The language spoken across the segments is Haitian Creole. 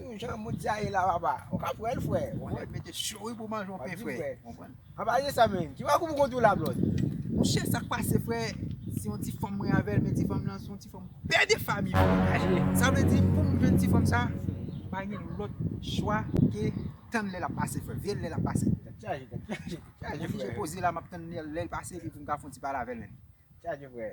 Ou jan moun sa ye la papa. Ou ka pran l frè. Ou wè mete cho wi pou manje yon pen frè. An pa ye sa menm. Ti makout ou konn tou la blòd. Mon chè sak pase frè. Se yon ti fanm mwen avèl men ti fanm lan se yon ti fanm pè de fami frè. Sa vle di poum jwenn ti fanm sa pa gen lòt chwa ke tann lè lap pase frè. Veye l lè lap pase. Tèt chaje frè. Mwen poze la map tann lè l pase epi poum ka fon ti pale avèl menm. Tèt chaje frè.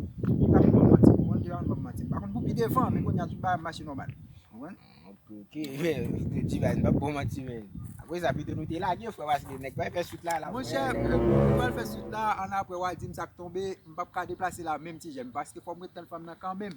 Li pa konn manti m konprann, li pa konn banm manti m pa konn pou pi devan men kounya tout bagay ap mache nòmal ou konprann. Ok men Divine pap bon manti menn. Aprè sa pito nou te lage frè paske nèg pral fè swit la lap Monchè nou pral fè swit la an aprè wa di m sak tonbe m pap ka deplase la menm ti jèn paske fò m ret tann fanm nan kanmenm.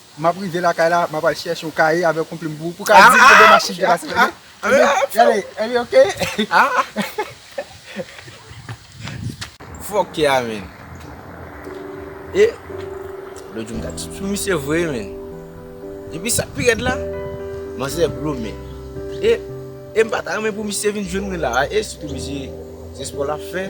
M ap rive lakay la, m ap al chèche yon kaye avèk yon plim pou ou, pou w ka di m kote machin te pase demen. Gade, are you okay? Fòk ke a men. E, lòt jou m ta sou misye vre men. Epi sa k pi rèd la, manzè blo men. E, e m pa ta renmen pou misye vin jwenn mwen la a, e sitou misye se spò l ap fè.